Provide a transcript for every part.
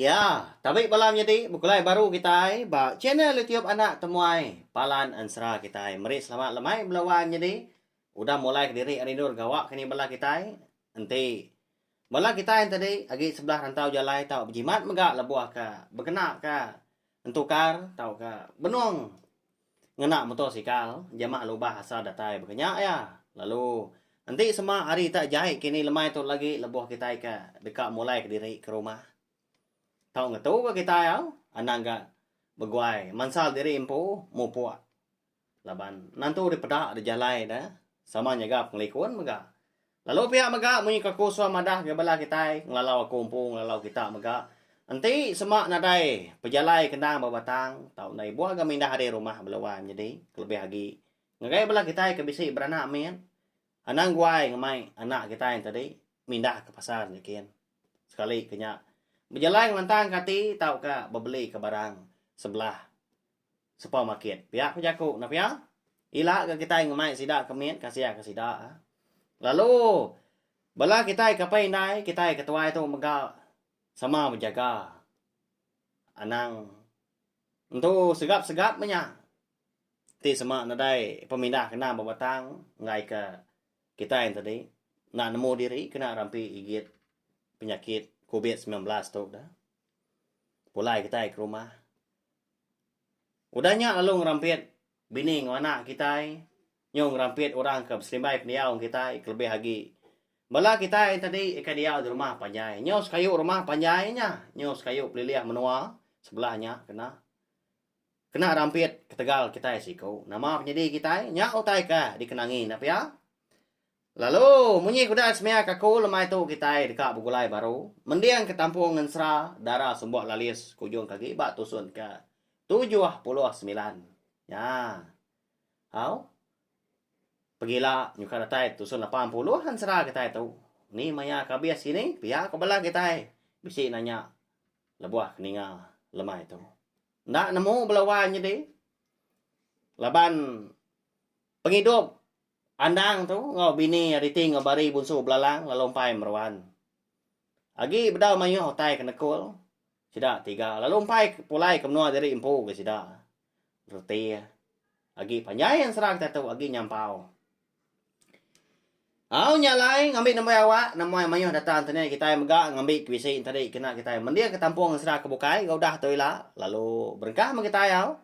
Ya, tabi bala menyadi bekulai baru kitai ba channel YouTube Anak Temuai Palan Ensera kitai. Meri selamat lemai bela wan nyadi udah mulai kediri rindu regawa keni bala kitai. Enti bala kitai enti tadi agi sebelah rantau jalai tau bejimat mega lebuh ka bekena ka entukar tauka benung. Ngena muto sikal jama lubah asa datai bekenya iya lalu enti sema hari ta jai kini lemai tu lagi leboh kitai ka deka mulai kediri ke rumah. Tau ngetu ga kitai au anang ga beguai mansal diri empu mupok laban nentu dipeda dijalai da sama nyaga pengelikun mega. Lalu pia mega munyi ke aku suah madah ke bala kitai ngelalau aku empu ngelalau kita mega enti sema nadai pejalai ke endang ba batang tau enda ibuh ga mindah ari rumah bela wai menyedi kelebih agi ngagai bala kitai ke bisi beranak mit anang guai ngemai anak kitai tadi mindah ke pasar nyikin sekali ke nya bejalai ngelantang ke ati tauka bebeli ke barang sebelah supermarket. Pia ku jaku ne pia. Ila ga kitai ngemai sida ke mit kasih ke sida. Lalu bala kitai ke apai indai kitai ke tuai tu mega sama bejaga anang entu segap segap meh nya ti sema nadai pemindah kena bebatang enggai ke kitai enti tadi enda nemu diri kena rampi igit penyakit covid sembilan belas tu da. Pulai kitai ke rumah. Udah nya lalu ngerampit bini enggau anak kitai nyau ngerampit orang ke beselimbai pendiau enggau kitai kelebih agi bala kitai tadi ke diau di rumah panjai nyau sekayu rumah panjai nya nyau sekayu pelilih menua sebelah nya kena kena rampit ketegal kitai siku nama penyadi kitai nya utai ke dikenangi enda pia. Lalu, munyi kuda semia kaku lemai tu kitai deka begulai baru, mending ke tampung ngensera dara sumbok lalis ke ujung kagi ba tusun ke tujuh puluh semilan. Nya. Au. Pegila nyuka datai tusun lapan puluh ngensera kitai tu. Ni maya ke abis kini, pia ko bala kitai bisi nanya lebuh ke ninga lemai tu. Enda nemu bala wai nyedi laban. Pengidup Andang tu enggau bini Ariti enggau Bari Bunsu Belalang lalu empai meruan. Agi bedau mayuh utai ke nekul sida tiga lalu empai pulai ke menua diri empu ke sida. Reti agi panjai ensera kita tu agi nyampau. Au nya alai ngambi nembiak awak nemuai mayuh data internet kitai mega ngambi ke bisi enti ari kena kitai mendir ke tampung ensera ke bukai enggau udah tu ila lalu berengkah meh kitai au.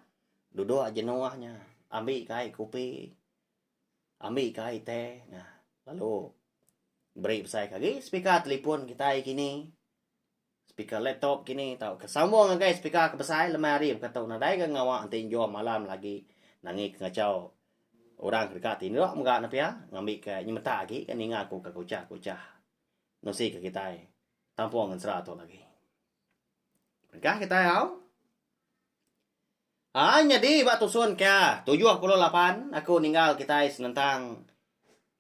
Duduk jenuh nya ambi ka ai kopi ambi ka ai teh nah lalu beri besai ka agi speaker telefon kitai kini speaker laptop kini tau ke sambung ngagai speaker ke besai lemai hari baka tu nadai ga ngawa enti enjom malam lagi nangi pengachau orang ke deka ti enda dua mega ne pia ngambi ka nyemetak agi ninga ku ka kuchah kuchah nusi ka kitai tampu ngan sera tu lagi. Engkah kitai au. Ai nyadi ba tusun ke 78 aku ninggal kitai senentang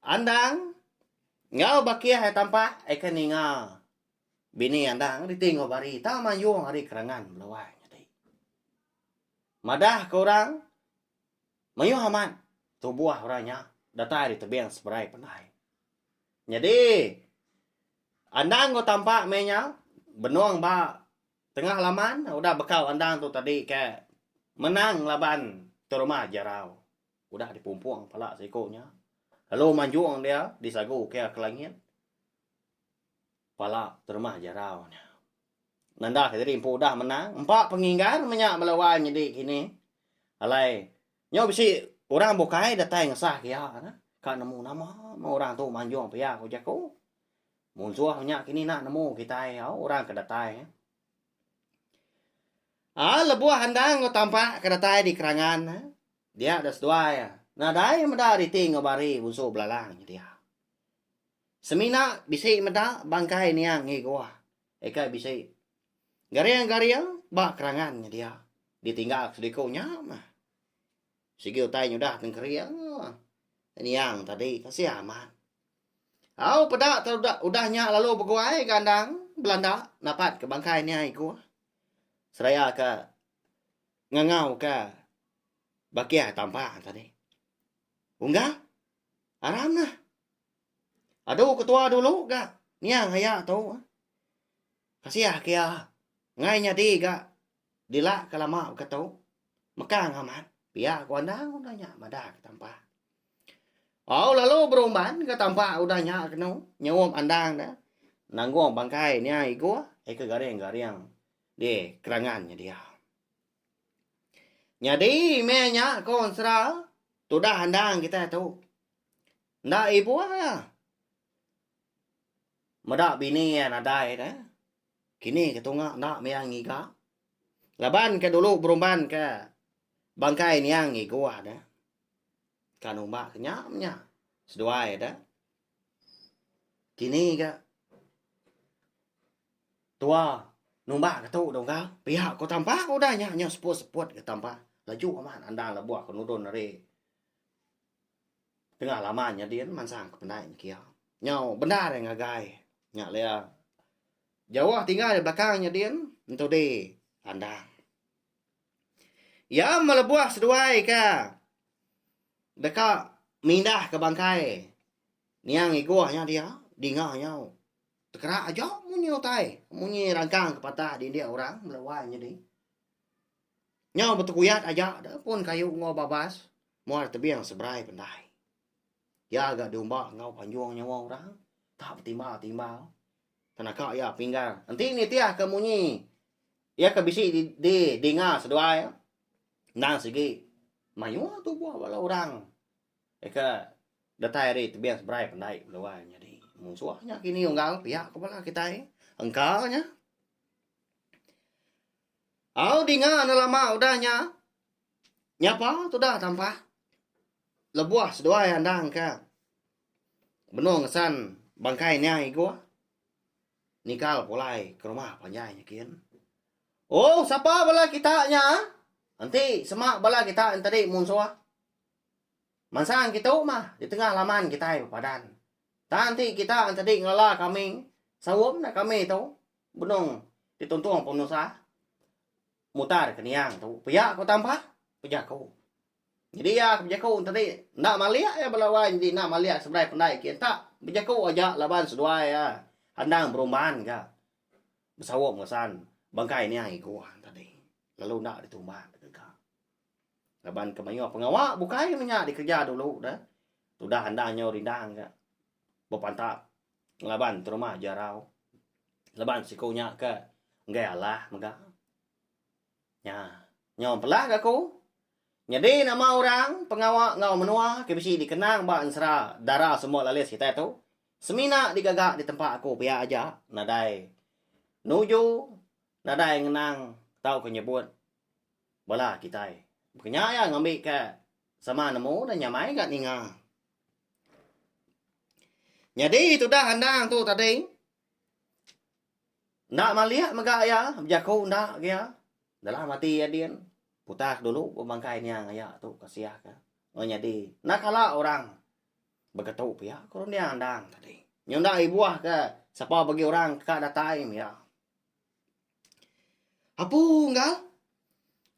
Andang enggau Bakih ai tampah ai ke ninga bini Andang reti enggau bari tang mayuh ari kerangan belawai nyadi. Madah ke orang mayuh amat tubuh orang nya datai ari tebing seberai pandai. Nyadi Andang ko tampak meh nya benong ba tengah laman udah bekau andang tu tadi ke menang laban terumah jerau udah dipumpong pala siko nya lalu manjong dia disagu ke ke langit pala terumah jerau nya nanda ke diri empu udah menang empa penginggar meh nya bala wai nyadi kini alai Nyau bisi orang bukai datai ngesah iya nah. Ka nemu nama meh orang tu manjung pia ku jaku. Munsuh nya kini nak nemu kitai au orang ke datai. Ah lebuh endang enggau tampak ke datai di kerangan nah. Dia deh seduai nadai meda riti enggau bari bunsu belalang nya dia. Semina bisi meda bangkai niang Ngigua. Eka bisi Garing-garing ba kerangan nya dia ditinggal seliku nya mah. Sigi utai nyudah tengkering niang tadi kasih amat. Au peda udah nya lalu beguai ke andang Belanda napat ke bangkai niang iku seraya ke ngangau ke bakih tampa tadi. Unggal aram nah. Adu ketua dulu ga niang aya tu. Kasih ke iya ngai nyadi ga dila ke lama ke tu. Mekang amat pia ku andang udah nya madah ke tampa. Au lalu berumban ke tampa udah nya kenu nyup andang ne nanggung bangkai niang Igoh aka garing-garing di kerangan nya dia. Nyadi meh nya ku Ensera tudah andang kitai tu. Enda ibuh iya. Meda bini iya nadai deh. Kini ke tunga enda mia ngiga. Laban ke dulu berumban ke bangkai niang iguh deh. Ka numba ke nya menya seduai deh. Kini ke tua numba ke tu dong ka. Pia ku tampa ku udah nya nyau seput-seput ke tampa. Laju amat andang lebuh ke nudon ari. Tengah lama nyadi ne mansang ke penai miki iya. Nyau bendar iya ngagai. Nya laya jauh tinggal di belakang nyadi ne entudi andang. Iya melebuh seduai ke deka mindah ke bangkai niang Igoh nya dia dinga nyau tekera aja munyi utai, munyi rangkang ke patah dinding orang melebuh nyadi. Nyau betekuyat aja da pun kayu enggau babas muar tebing seberai pendai. Iya ga diumba enggau panjung nyawa orang, ka betimbal-timbal. Ke naka iya pinggar enti nitih ke munyi iya ke bisi di dinga seduai endang sigi mayuh tubuh bala orang ke datai ari tebing seberai pendai keluar nyadi munsuh nya kini unggal pia ke bala kitai engka nya. Au dinga enda lama udah nya. Nyapa tudah tampah. Lebuh seduai andang ke benung ngesan bangkai nya Igoh nikal pulai ke rumah panjai nya kin. Ohh sapa bala kita nya? Enti sema bala kita nya tadi munsuh. Mansang kitu mah di tengah laman kitai bepadan. Tang enti kita nya tadi ngelala kami, saum dah kami tu. Benung ti tuntung penusa mutar ke niang tu pia ku tampa pejaku. Nyadi iya ke bejaku enti ti enda malik iya bala wai nyadi enda malik seberai pendai kiye enta bejaku aja laban seduai iya andang berumban ga besaup ngesan bangkai niang iku han tadi lalu enda ditumba ke deka. Laban ke mayuh pengawa bukai menya dikereja dulu de tudah andang nyau rindang ga bepantap. Laban terumah jarau. Laban siku nya ke enggai alah mega. Nya. Nyau empelah ke aku. Nyadi nama orang pengawa enggau menua ke bisi dikenang ba ensera dara semua lalis kitai tu semina digaga di tempa aku pia aja nadai nuju nadai ngenang tauka nyebut bala kitai. Baka nya iya ngambi ke sama nemu dan nyamai ga ninga. Nyadi tudah andang tu tadi enda malik mega iya bejaku enda ga iya dalam ati iya din putar dulu ba bangkai niang iya tu ka sia ka meh nyadi enda kala orang beketu pia ku ndia andang tadi nyau enda ibuh ka sapa bagi orang ka datai meh iya. Apu unggal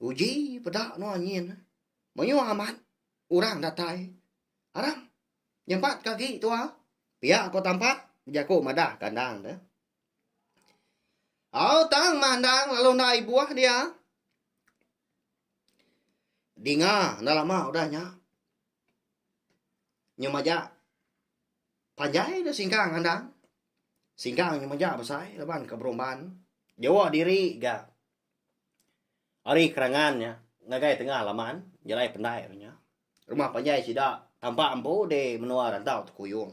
uji peda nua nyin mayuh amat. Orang datai arang nyampat ke agi tua pia ko tampat bejaku madah ke endang tu. Au tang mah endang lalu enda ai buah dia. Dinga enda lama udah nya. Nyu maja panjai dah singkang endang. Singkang nyu maja besai laban ke berumban. Jawa diri ga. Ari kerangan nya, ngagai tengah laman, jalai pendai nya nya, rumah panjai sida tampak empu di menua rantau Tekuyung.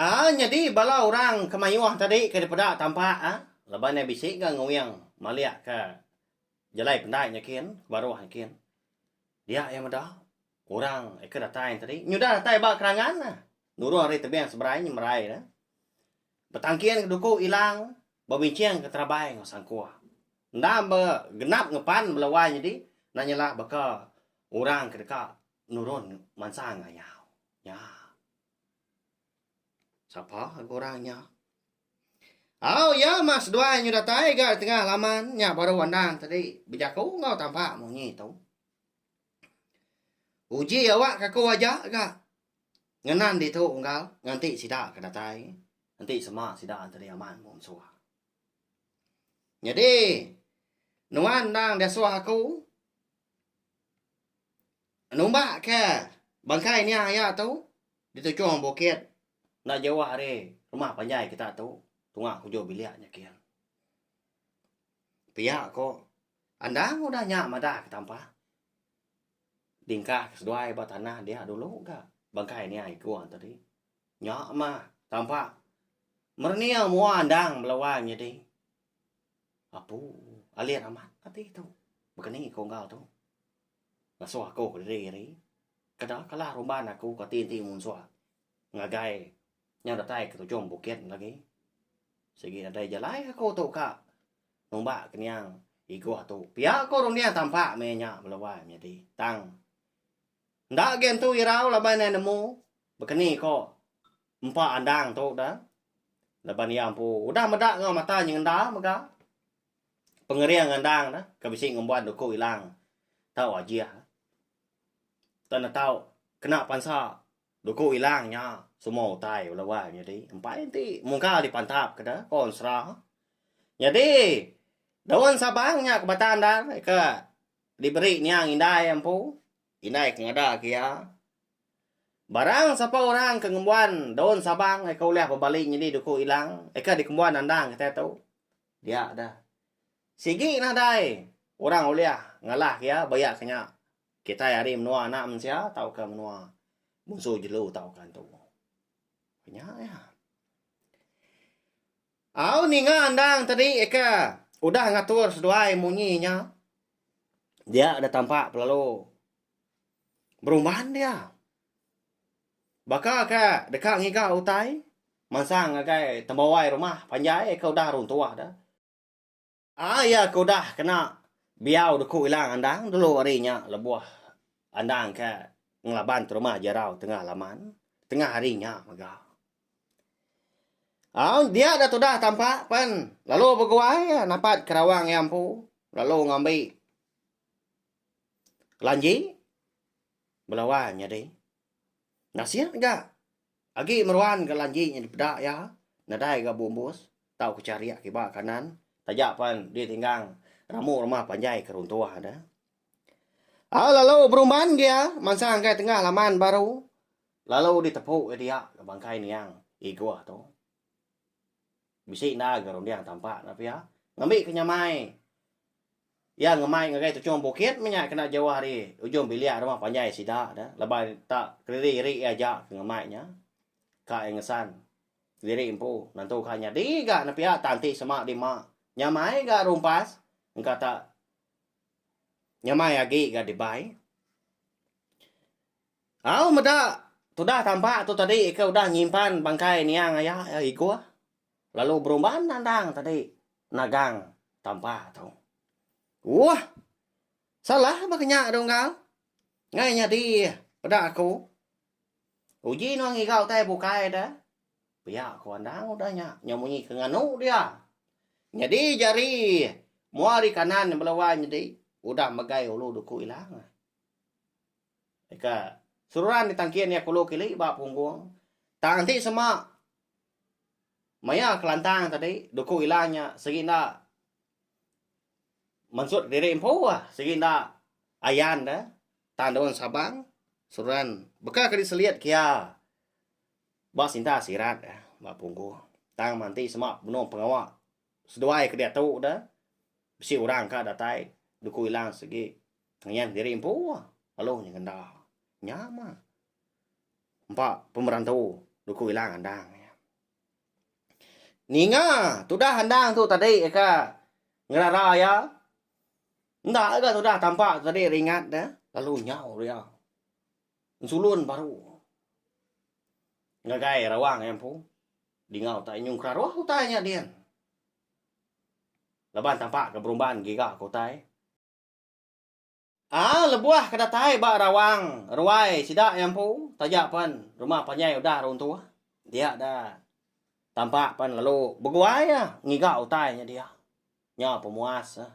Aa nyadi bala orang ke mayuh tadi ke dipeda tampak a laban iya bisi ga nguing malik ka jalai pendai nya kin ke baruh nya kin. Dia iya meda orang ke datai tadi nyudah datai ba kerangan nurung ari tebing seberai nyemerai ne. Betangkin ke duku ilang bebincing ke terabai enggau sangkuh. Enda be genap ngepan bela wai nyedi nan nyela baka orang ke deka nurun mansa ngayau nya. Sapa ga orang nya? Au iya mah seduai nyau datai ga tengah laman nya baru andang tadi bejaku enggau tampak munyi tu. Uji awak kaku aja ga. Ngenang ditu unggal nganti sida ke datai enti sema sida enti deh amat mung suha. Nyadi nuan endang deh suha aku numba ke bangkai nya iya tu di tujung bukit enda jauh ari rumah panjai kita tu tunga hujung bilik nya kian. Pia ko endang udah nya madah ke tampa. Dingkah ke seduai ba tanah dia dulu ga bangkai nia iku ante di. Nya mah tampa merening mua andang bala wang nyadi apu alit amat ati tu. Baka ni iku enggau tu. Ngasuh aku kediri ari keda kala rumban aku ka ti enti munsuh ngagai nyau datai ke tujung bukit agi sigi nadai jalai aku tu ka. Numbak ke nia igoh tu. Pia ko Runia tampak meh nya belawai menyadi. Tang enda agi entu irau laban iya nemu bekeni ko empa andang tu da laban iya empu udah meda enggau mata nyengenda mega pengering andang da ke bisi ngembuan duku ilang tau ajih. Tau ne tau kena pansa. Duku ilang nya semua utai bala wang nyadi empai enti mungka dipantap ke da ko ensera. Nyadi daun sabang nya ke batang da ke diberi niang indai empu indai ke ngada ke iya. Barang sapa orang ke ngembuan daun sabang eka ulih bebali nyadi duku ilang eka dikembuan andang kitai tu dia da. Sigi nadai orang ulih ngalah ke iya baya ke nya Kitai ari menua anak mensia tauka menua munsu jelu tauka antu. Nya ya. Au ninga andang tadi eka udah ngatur seduai munyi nya. Dia ada tampak pelalu berumban dia. Baka ke deka ngiga utai mansang ngagai tembawai rumah panjai eka udah runtuh dah. Ah iya ke udah kena biau deku ilang andang dulu ari nya lebuh andang ke ngelaban terumah jerau tengah laman tengah hari nya mega. Au dia dah tudah tampa pen lalu beguai iya napat ke rawang iya empu lalu ngambi kelanji belawa nyadi nasir ga. Agi meruan ga lanji nya dipeda iya nadai ga beumbus tau ke charik kiba kanan taja pen ditinggang rambu rumah panjai ke runtuh nya. Au lalu berumban ke iya mansang ke tengah laman baru lalu ditepu ke dia bangkai niang Igoh tu. Bisi enda ga runding tampak nya pia. Ngambi ke nyamai iya ngemai ngagai tuchung bukit meh nya kena jauh ari ujung bilik rumah panjai sida dah laban tak kediri iri iya aja ke ngemai nya. Ka iya ngesan kediri empu nentu ka nyadi ga ne pia tang ti sema dima nyamai ga rumpas engka tak nyamai agi ga dibai. Au meda tudah tampak tu tadi ke udah nyimpan bangkai niang aya Igoh lalu berumban nandang tadi nagang tampak tu. Uah. Salah baka nya Dunggal. Ngai nyadi peda aku. Uji nuan ngiga utai bukai da. Pia aku andang udah nya nyau munyi ke nganu dia. Nyadi jari mua ari kanan bela wai nyadi udah megai ulu duku ilang. Deka seruran ditangkin iya kulu kili ba punggung. Tang enti sema maya kelantang tadi duku ila nya sigi enda mensut kediri empu ah, sigi enda ayan deh tang daun sabang seruran baka ke diselit ke iya ba sinta sirat eh ba punggung. Tang mah enti sema benung pengawa seduai ke diatu deh bisi orang ka datai duku ila sigi Ngiang diri empu lalu nya ngenda nyama empa pemeran tu duku ila ngandang iya. Ninga tudah andang tu tadi ka ngerara iya enda ga tudah tampa tadi ringat dia lalu nyau dia nsulun baru ngagai rawang iya empu dingau utai nyung keraroh utai nya din laban tampa ke berumban giga ke utai. Aa lebuh ke datai ba rawang ruai sida iya empu taja pen rumah panjai udah runtuh dia da tampak pen lalu beguai iya ngiga utai nya dia. Nya pemuas iya.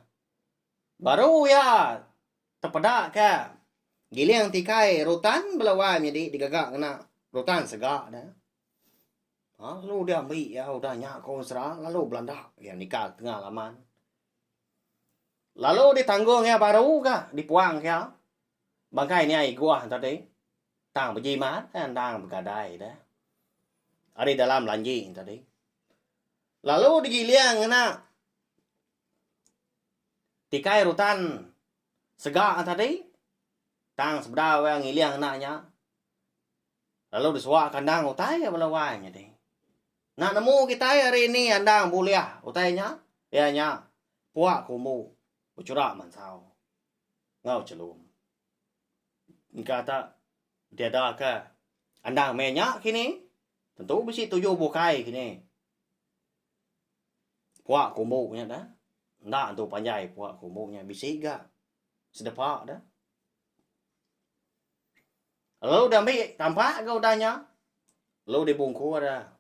Baru iya tepeda ke giling tikai rutan bela wai menyadi digaga ngena rutan sega ne. Aa lalu dia ambi iya udah nya ku mesra lalu belanda iya nikal tengah laman. Lalu ditanggong iya baru ga dipuang iya bangkai nya iguh tadi tang bejimat eh endang begadai deh ari dalam lanji tadi lalu digiling ngena tikai rutan sega tadi tang sebedau iya ngiling ngena nya lalu disuak kandang utai iya bala wai nya tadi. Enda nemu kitai ari ni andang bulih utai nya iya nya puak ke umbu bechura mansau enggau chelum. Engka ta diadaka andang meh nya kini tentu bisi tuju bukai kini. Puak ke umbu nya da enda antu panjai puak ke umbu nya bisi ga sedepa da. Lalu diambi tampak ga udah nya. Lalu dibungku ada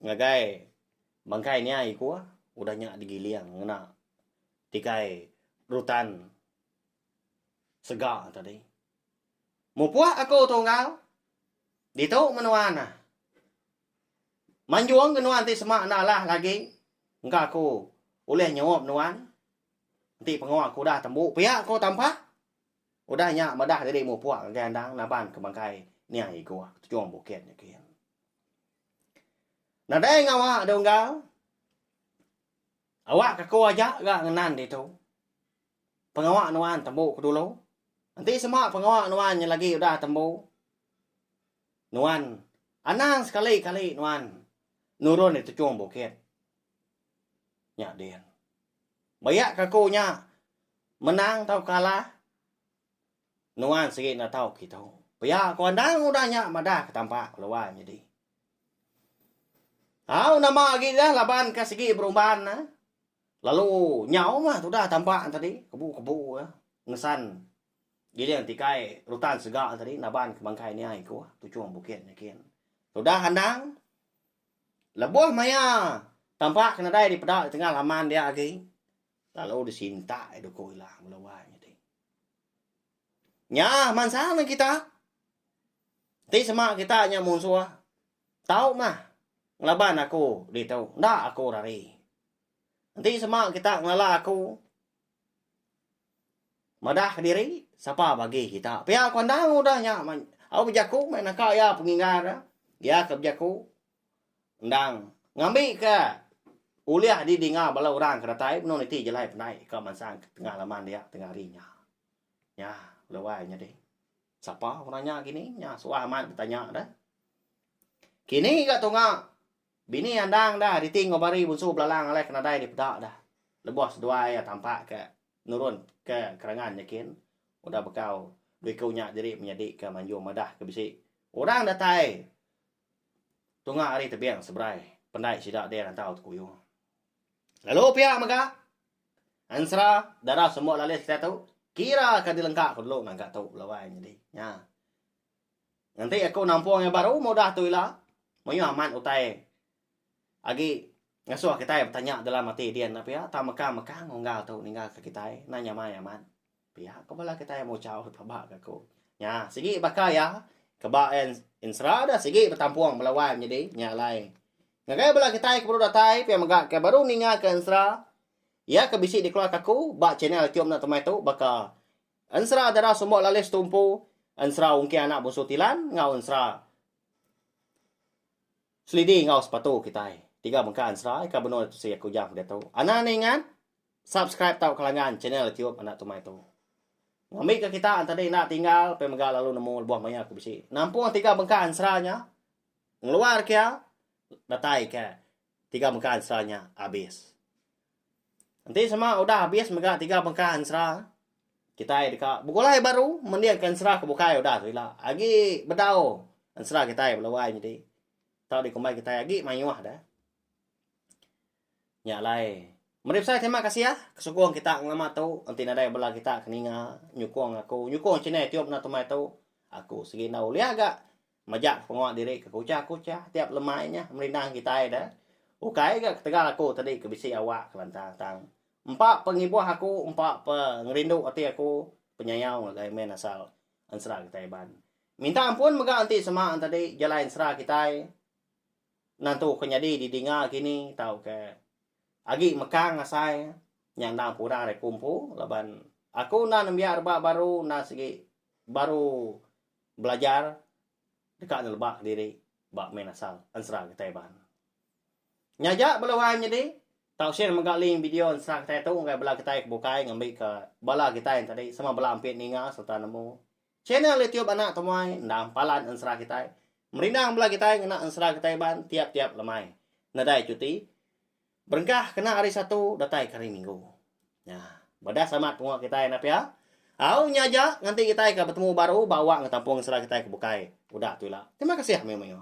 ngagai bangkai nia iku udah nya digiling ngena tikai rutan sega tadi. Mupuk aku tunggal ditu menua ne. Manjung ke nuan ti sema enda alah lagi engka aku ulih nyeup nuan enti pengoh aku udah tembu pia ku tampak. Udah nya madah diri mupuk ngagai andang naban ke bangkai niang iguh tujung bukit nya gin. Nadai ngawa da unggal. Awak kaku aja ga ngenan ditu. Pengawa nuan tembu ke dulu. Enti sema pengawa nuan nya lagi udah tembu. Nuan anang sekali kali nuan nurun di tujung bukit nya din. Maya ke aku nya menang tau kalah, nuan sigi enda tau kitu. Pia ku andang udah nya madah ke tampak keluar nyadi. Au nama agi dah laban ke sigi berumban ne lalu nyau mah tudah tampak ne tadi kebu-kebu ke ngesan giling tikai rutan sega tadi naban ke bangkai nia iku Tuchong Bukit nyikin. Tudah andang. Lebuh maya tampak ke nadai dipeda di tengah laman dia agi, lalu disintak duku ila mula wai nyadi. Nya mansang nen kita. Ti sema kita nya munsuh. Tau mah ngelaban aku ditu, enda aku rari. Enti sema kita ngelala aku, Madah kediri, sapa bagi kita. Pia ku andang udah nya au bejaku meh naka iya penginggar iya. Iya ke bejaku endang ngambika ulih didinga bala orang ke datai menu niti jalai pandai ka mansang ke tengah laman dia tengah hari nya. Nya lalu ai nyadi. Sapa orang nya kini nya suah amat betanya deh. Kini ga tunga. Bini Andang dah riti enggau Bari Bunsu Belalang alai ke nadai dipeda dah lebuh seduai iya tampak ke nurun ke kerangan nyekin udah bekau dua iku nya diri menyadi ke manjung madah ke bisi orang datai tunga ari tebing seberai pendai sida deh rantau tekuyung. Lalu pia mega Ensera dara semua lalis kita tu kira ke dilengka ku dulu nangka tu laban nyadi nya. Enti aku nampung iya baru meh udah tu ila, mayuh amat utai agi ngasuh kitai betanya dalam ati din nya pia tang meka meka unggal tu ninggalka kitai enda nyamai amat. Pia ku bala kitai muchau deka ba ka aku. Nya sigi baka iya ke ba Insra dah sigi betampung bala wang nyadi nya alai. Ngagai bala kitai ke baru datai pia mega ke baru ninga ke Insra iya ke bisi dikeluarka aku ba channel youtube enda temai tu baka Ensera Dara Sembok Lalis Tumpu, Ensera Ungkih Anak Busu Tilan enggau Ensera Selidi enggau Sepatu Kitai. Tiga bengkah ensera ika benung ditusi aku jam keditu. Anang enda ingat? Subscribe tau kelanggan channel YouTube Anak Tumai tu. Ngambika kita entadi enda tinggal pia mega lalu nemu lebuh maya aku bisi. Nampung tiga bengkah ensera nya, ngeluar kia, datai kia. tiga mega ensera nya abis. Enti sema udah abis mega tiga mega ensera, kitai deka begulai baru mendingka ensera ke bukai udah tu ila. Agi bedau ensera kitai bala wai nyadi tau dikumbai kitai agi mayuh deh. Nya alai, meri besai terima kasih ke sukung kita ngelama tu enti nadai bala kita ke ninga nyukung aku, nyukung channel Tiup Enda Tumai tu, aku sigi enda ulih ga Majak ke pengawa diri ke kucha-kucha tiap lemai nya merindang kitai da. Ukai ga ketegal aku tadi ke bisi awak kelantang tang empa pa ngibuh aku empa pa ngerindu ati aku penyayau ngagai men asal ensera kitai Iban. Minta ampun mega enti sema entadi jalai ensera kitai nentu ke nyadi di dinga kini tauka agi mekang asai nya endang pura ari aku empu laban aku enda nembiak rebak baru enda sigi baru belajar deka neleba diri ba main asal ensera kitai Iban. Nya aja bala orai menyedi, tau share mega link video ensera kitai tu ngagai bala kitai ke bukai ngambika bala kitai nya tadi sama bala ampit ninga sereta nemu channel YouTube anak temuai endang palan ensera kitai. Merindang bala kitai ngena ensera kitai Iban tiap-tiap lemai nadai cuti. Berengkah kena hari Satu datai ke hari Minggu. Nya, beda sama pengawa kitai enda pia. Au nya aja nganti kitai ka betemu baru ba awak enggau tampung sera kitai ke bukai udah tu ila. Terima kasih mayuh-mayuh.